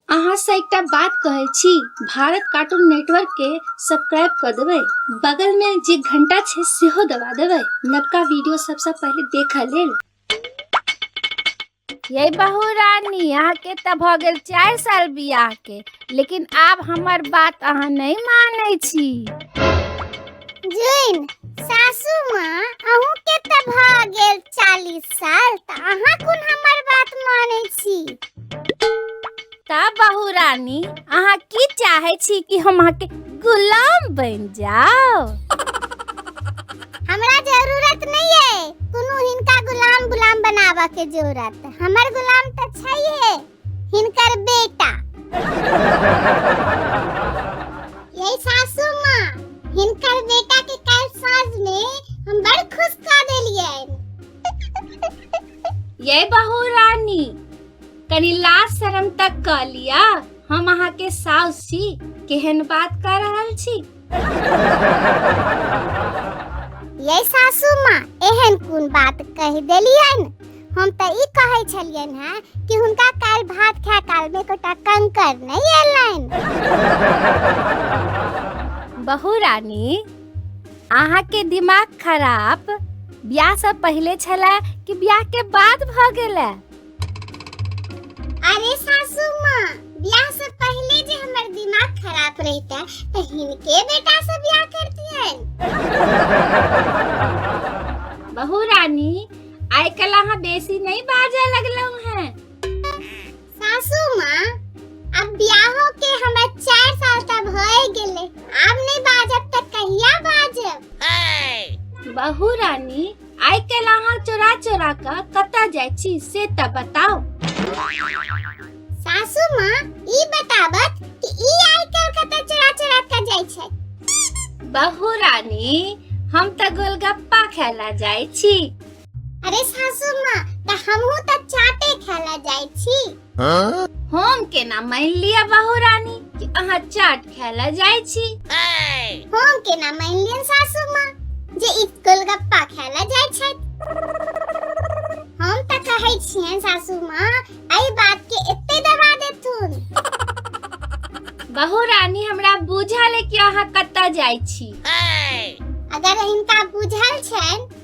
अहाँ से एकटा बात कहै छी भारत कार्टून नेटवर्क के सब्सक्राइब कऽ देबै बगल मे जे घंटा छै सेहो दबा देबै नवका वीडियो सबसँ पहिले देखऽ लेल ये बहू रानी अहाँ के तऽ भऽ गेल चारि साल बियाह के लेकिन आब हमर बात अहाँ नहि मानै छी जुइन सासू माँ अहूँ के तऽ भऽ गेल चालीस साल तऽ अहाँ कोन हमर बात मानै छी तऽ बहू रानी अहाँ की चाहै छी कि हम अहाँके गुलाम बनि जाओ हमरा जरूरत नहीं है कोनो हिनका गुलाम गुलाम बनाबऽ के जरूरत हमर गुलाम तऽ छैहे हिनकर बेटा ये सासू माँ हिनकर बेटा के कल साँझ में हम बड़ खुश कर देलिए ये बहू रानी कनी लाज शर्म तक कह लिया हम अहाँ के साउस छी केहन बात कर रहल छी ये सासू माँ एहन कोन बात कह देलियन हम तो ई कहे छलियन हैं कि हुनका काल भात खाए काल में कोटा कंकर नहीं एलन बहू रानी अहाँ के दिमाग खराब ब्याह से पहले छला कि ब्याह के बाद भ गेला अरे सासू माँ ब्याह से पहले जे हमर दिमाग खराब रहता तो हिनके बेटा से ब्याह करतियन बहू रानी आय कल अहाँ बेसी नहीं बाजा लगलौ हैं सासू माँ अब ब्याहो के हमरा चार साल तक भए गेले आब नहीं बाजब तो कहिया बाजब बहू रानी आइ काल्हि अहाँ चोरा चोरा कऽ कतऽ जाइ छी से तऽ बताउ सासू माँ ई बताबत कि ई आइ काल्हि कतऽ चोरा चोरा कऽ जाइ छै बहू रानी हम तऽ गोलगप्पा खाय लए जाइ छी अरे सासू माँ तऽ हमहूँ तऽ चाटे खाय लए जाइ छी हम केना मान लिया बहू रानी कि अहाँ चाट खाय ला जाइ छी हम केना मान लियन सासू माँ जे ई गोलगप्पा खाय ला जाइ छथि हम तऽ कहै छियन सासू माँ एहि बात के एते दबा देथुन बहू रानी हमरा बुझल है कि अहाँ कतऽ जाइ छी अगर हिनका बुझल छनि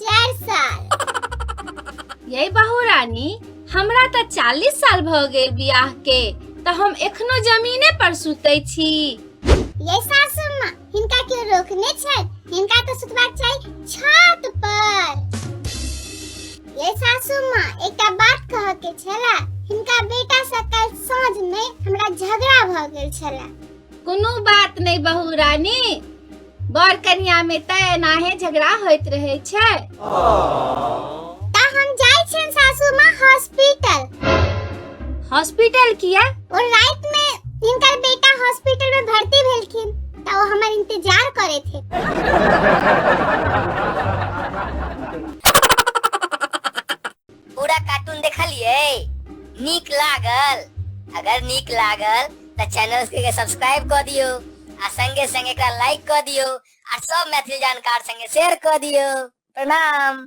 चारि साल ये बहू रानी हमरा तऽ चालीस साल भऽ गेल बियाह के तऽ हम एखनो जमीने पर सुतै छी ये सासू माँ हिनका क्यों रोकने छै हिनका तो सुतबाक चाही छत पर ये सासू माँ एकटा बात कह के छला हिनका बेटा से कल साँझ में हमरा झगड़ा भऽ गेल छला कोनो बात नहि बहू रानी बर कनिया में तऽ एनाहे झगड़ा होइत रहे छै तऽ हम जाइ छियनि सासू माँ हॉस्पिटल हॉस्पिटल किया और रात में इनकर बेटा हॉस्पिटल में भर्ती भेलखिन तऽ ओ हमर इंतजार करे थे पूरा कार्टून देखलिए नीक लागल अगर नीक लागल तो चैनल के सब्सक्राइब कर दियो आ संगे संगे एकरा लाइक कर दियो आ सब मैथिली जानकार संगे शेयर कर दियो प्रणाम